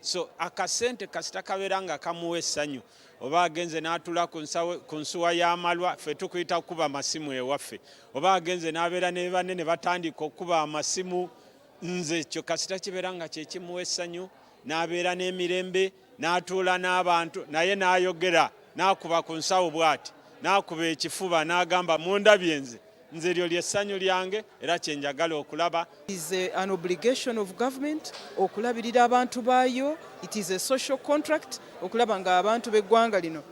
so akasente kasita kabeera nga kamuwa essanyu oba agenze n'atula ku nsuwa y'amalwa ffe tukuyita kukuba amasimu ewaffe oba agenze n'abeera ne banne ne batandika okukuba amasimu nze kyo kasita kibeera nga kyekimuwa essanyu n'abeera n'emirembe n'atuula n'abantu naye n'ayogera n'akuba ku nsawo bw'ati n'akuba ekifuba n'agamba mundabye nze nze lyo lyessanyu lyange era kyenjagala okulaba is an obligation of government okulabirira abantu baayo it is a social contract okulaba nga abantu b'eggwanga lino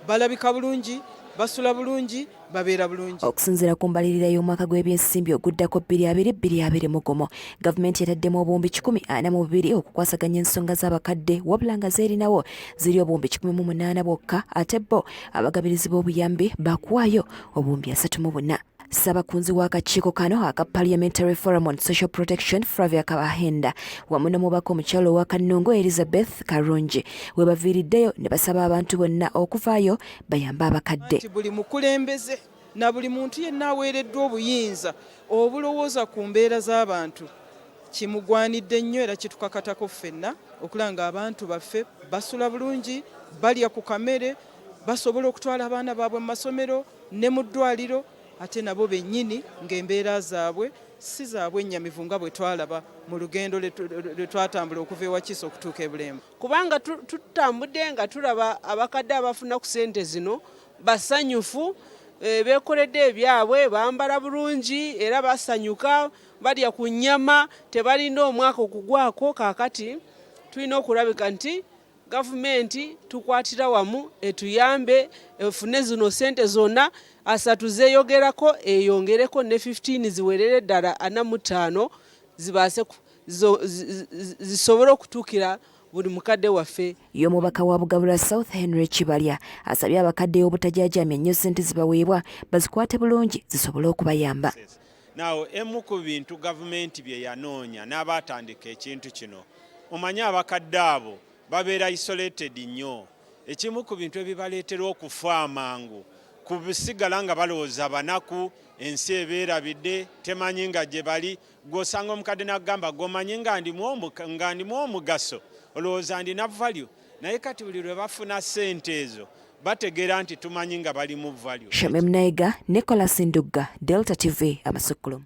balabika bulungi basula bulungi babeera bulungi okusinziira ku mbalirira y'omwaka gw'ebyensimbi oguddako bbiri abiri bbiri abiri mugumu gavumenti yataddemu obuwumbi kikumi ana mu bubiri okukwasaganya ensonga z'abakadde wabula nga zeerinawo ziri obuwumbi kikumi mu munaana bwokka ate bo abagabirizi b'obuyambi bakuwaayo obuwumbi asatu mu buna ssabakunzi w'akakiiko kano aka parliamentary forum on social protection fravia kabahenda wamu n'omubaka omukyalo owa kannungu elizabeth karungi we baviiriddeyo ne basaba abantu bonna okuvaayo bayambe abakadde buli mukulembeze na buli muntu yenna aweereddwa obuyinza obulowooza ku mbeera z'abantu kimugwanidde nnyo era kitukakatako ffenna okulaba ng'abantu baffe basula bulungi balya ku kamere basobola okutwala abaana baabwe mu masomero ne mu ddwaliro ate nabo bennyini ng'embeera zaabwe si zaabwe ennyamivu nga bwe twalaba mu lugendo lwe twatambula okuva ewakiisa okutuuka e Bulemba kubanga tutambudde nga tulaba abakadde abafuna ku ssente zino basanyufu eh, beekoledde ebyabwe bambala bulungi era basanyuka balya ku nnyama tebalinda omwaka okugwako kaakati tulina okulabika nti Gavumenti tukwatira wamu etuyambe efune zino sente zonna asatu zeyogerako eyongereko ne 15 ziwerere ddala ana mu ttaano zibaase zisobole okutuukira buli mukadde waffe. Ye omubaka wa Bugabula South Henry Kibalya asabye abakadde obutajaajamya nnyo ssente zibaweebwa bazikwate bulungi zisobole okubayamba. Nawo emu ku bintu gavumenti bye yanoonya n'abaatandika ekintu kino, omanyi abakadde abo babeera isolated nnyo. Ekimu ku bintu ebibaleetera okufa amangu kusigala nga balowooza banaku, ensi ebeerabidde, temanyi nga gye bali. Gwe osanga omukadde n'akugamba, gwe omanyi nga ndimu omugaso, olowooza ndina value. naye kati buli lwe bafuna ssente ezo bategeera nti tumanyi nga balimu value. Shamim Naiga, Nicholas Ndugga, Delta TV, Amasukkulumu.